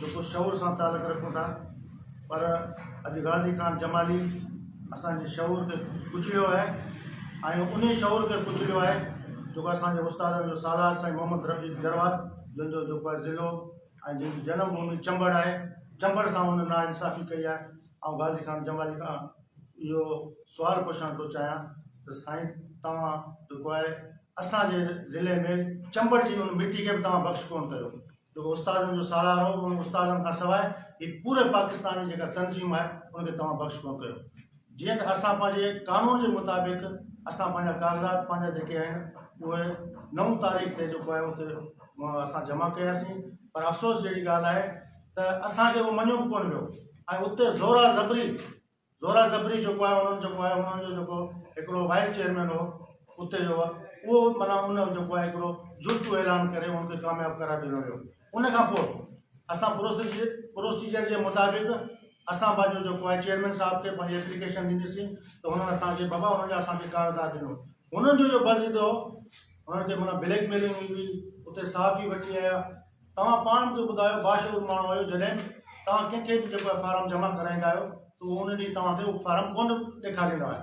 جيڪو شعور سان تعلق رکون ٿا پر اڄ غازي خان جمالي اسان جي شعور کي ڪچليو آهي ۽ انهي شعور کي ڪچليو آهي جيڪو اسان جي استادن جو سالار سائين محمد رفيق جروار جن جو جيڪو آهي ضلعو ۽ جن جي جنم ڀومي چمبڙ آهي چمبڙ سان ان نا انصافي ڪئي آهي آئون غازي خان جمالي کان اهو سوال پڇڻ ٿو چاهيان ته سائين توهان جيڪو آهي اسان جي ضلعي ۾ چمبڙ جي ان مٽي کي به توهان بخش ڪونه ڪيو جيڪو استادن جو سالارو هو انهن استادن کان سواء هي پوري پاڪستان جي جيڪا تنظيم آهي ان کي توهان بخش ڪونه ڪيو جيئن ته اسان پنهنجي قانون جي مطابق اسان پنهنجا ڪاغذات پنهنجا جيڪي آهن اهي نو تاريخ تي جيڪو آهي اتي اسان جمع ڪياسين پر افسوس جهڙي ڳالهه آهي ته اسان کي اهو مڃيو به ڪونه ويو ۽ اتي زورا زبري زورا زبري جيڪو آهي انهن جيڪو آهي انهن جو جيڪو هڪڙو وائيس چيئرمين هو اتي جو اهو مانا ان جيڪو آهي هڪڙو جرتو اعلان ڪري ان کي ڪامياب قرار ڏنو ويو ان کان پوء اسان پروسيجر پروسيجر جي مطابق اسان پنهنجو جيڪو آهي چيئرمين صاحب کي پنهنجي اپليڪيشن ڏنيسين ته هنن اسان کي بابا هنن جا اسان کي ڪارزار ڏنو هنن جو جو بس ڏنو هنن کي مانا بليڪ ميلنگ هئي اتي صحافي وٺي آيا توهان پاڻ مون کي ٻڌايو باشعور ماڻهو آهيو جڏهن توهان ڪنهن کي به جيڪو اهي فارم جمع ڪرائيندا آهيو ته هو ان ڏينهن توهان کي اهو فارم ڪونه ڏيکاريندو آهي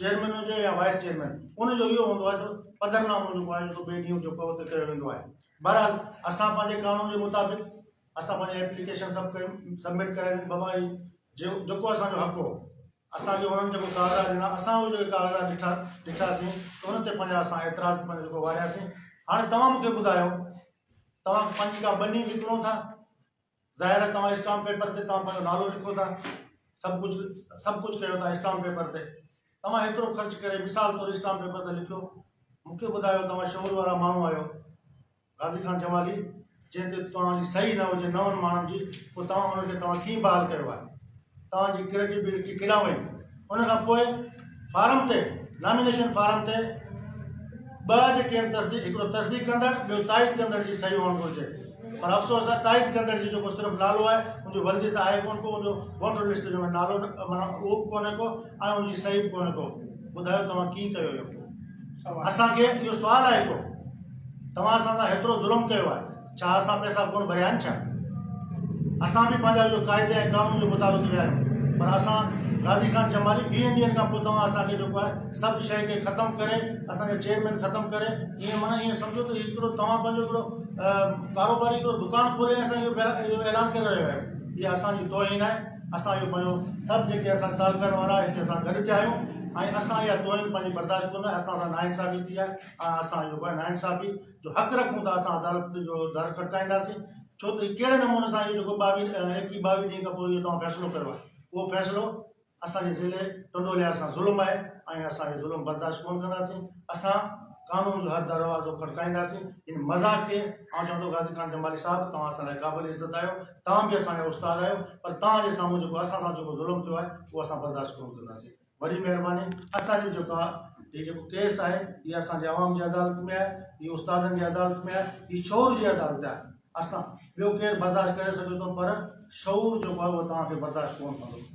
چيئرمين هجي يا وائيس چيئرمين ان جو اهو هوندو آهي ته پڌر نامو جيڪو آهي سو ٻئي ڏينهن جيڪو اتي ڪيو ويندو آهي بهرحال اسان پنهنجي قانون جي مطابق اسان پنهنجي ايپليڪيشن سڀ ڪيون سبمٽ ڪرايون ٻه ٻاري جيڪو اسان جو حق هو اسان کي انهن جيڪو ڪاغذات ڏنا اسان اهي جيڪي ڪاغذات ڏٺا ڏٺاسين ته ان تي پنهنجا اسان اعتراض پنهنجو جيڪو وارياسين هاڻي توهان مونکي ٻڌايو توهان پنهنجي ڪا ٻني وڪڻو ٿا ظاهر آهي توهان اسٽامپ پيپر تي توهان پنهنجو نالو لکو ٿا سڀ ڪجهه سڀ ڪجهه ڪيو ٿا اسٽامپ پيپر تي توهان هيترو خرچ ڪري مثال طور اسٽامپ پيپر تي لکيو مونکي ٻڌايو توهان شعور وارا ماڻهو آهيو غازي خان جمالي، جنهن تي توهان جي صحيح نه هجي نون ماڻهن جي، پوء توهان ان کي توهان ڪيئن بحال ڪيو آهي؟ توهان جي ڪريڊيبلٽي ڪيڏانهن وئي؟ ان کان پوء فارم تي، نامينيشن فارم تي ٻه جيڪي آهن تصديق، هڪڙو تصديق ڪندڙ، ٻيو تائيد ڪندڙ جي صحيح هئڻ گهرجي. پر افسوس آهي تائيد ڪندڙ جي جيڪو صرف نالو آهي، ان جي ولدي ته آهي ڪونه ڪو، ان جو ووٽر لسٽ جو ۾ نالو معنيٰ اهو به ڪونه ڪو ۽ ان جي صحيح به ڪونه ڪو. ٻڌايو توهان ڪيئن ڪيو اهو؟ اسان کي اهو سوال آهي ٿو توهان اسان سان هيترو ظلم ڪيو آهي ڇا اسان پئسا ڪون ڀريا آهن ڇا؟ اسان به پنهنجا جو قاعدي ۽ قانون جي مطابق ويا آهيون پر اسان غازي خان چمالي ويهن ڏينهن کان پوء توهان اسان کي جيڪو آهي سڀ شيء کي ختم ڪري اسان جا چيئرمين ختم ڪري ائين معنيٰ ائين سمجهو ته هڪڙو توهان پنهنجو هڪڙو ڪاروباري هڪڙو دڪان کولي اسان کي اهو اعلان ڪري رهيو آهيو اها اسان جي توهين آهي اسان اهو پنهنجو سڀ جيڪي اسان تعلقن وارا هتي سان گڏ ٿيا آهيون ۽ اسان اها توهين پنهنجي برداشت ڪندا اسان سان ناانصافي ٿي آهي ۽ اسان اهو پنهنجي ناانصافي جو حق رکون ٿا اسان عدالت جو در کٽڪائينداسين ڇو ته ڪهڙي نموني سان اهو جيڪو ٻاويهه ايڪيهه ٻاويهه ڏينهن کان پوء اهو توهان فيصلو ڪيو آهي اهو فيصلو اسان جي ضلعي ٽنڊو لحاظ سان ظلم آهي ۽ اسان اهو ظلم برداشت ڪون ڪنداسين اسان قانون جو هر دروازو کٽڪائينداسين ان مذاق کي آئون چوان ٿو غازي خان جمالي صاحب توهان اسان لاء قابل عزت آهيو توهان به اسان جا استاد آهيو پر توهان جي سامهون جيڪو اسان سان جيڪو ظلم ٿيو آهي اهو اسان برداشت ڪونه ڪنداسين وڏي مهرباني اسان جو جيڪا هي جيڪو ڪيس آهي هي اسان جي عوام جي عدالت ۾ آهي هي استادن جي عدالت ۾ آهي هي شعور جي عدالت آهي اسان ٻيو ڪير برداشت ڪري سگهي ٿو پر شعور جيڪو آهي اهو توهان کي برداشت ڪونه ڪندو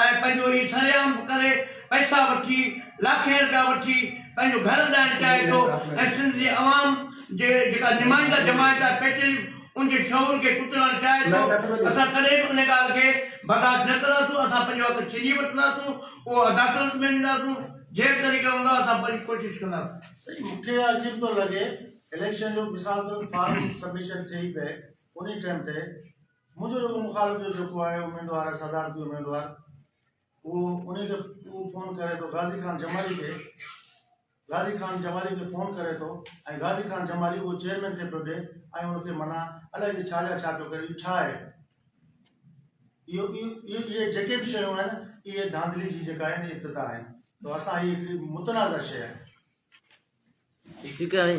۽ پنهنجو هي سرعام ڪري پئسا وٺي لاکين رپيا وٺي پنهنجو گهر هلائڻ چاهي ٿو ۽ سنڌ جي عوام جي جيڪا نمائنده جماعت آهي پيٽريلف ان جي شعور کي ڪچلڻ چاهي ٿو اسان ڪڏهن به ان ڳالهه کي برداشت نه ڪنداسون اسان پنهنجو حق ڇيني وٺنداسون اهو عداقلت ۾ وينداسون جنهن به طريقي هوندو اسان پنهنجي ڪوشش ڪنداسون. سائين مون کي عجيب ٿو لڳي اليڪشن جو مثال طور فارم سبمشن ٿئي پئي انهي ٽيم تي منهنجو جيڪو مخالف جو جيڪو آهي اميدوار آهي صدارتي اميدوار اهو انهي کي اهو فون ڪري ٿو غازي خان جمالي کي غازي خان جمالي کي فون ڪري ٿو ۽ غازي خان جمالي اهو چيئرمين کي پيو ڏي ۽ ان کي منا الائي جي ڇا جا ڇا پيو ڪري ڇا آهي اهو اهي اهي جيڪي به شيون آهن اهي ڌانڌلي جي جيڪا آهن ابتدا آهن تو اسان هي هڪڙي متنازع شيء آهي ٺيڪ آهي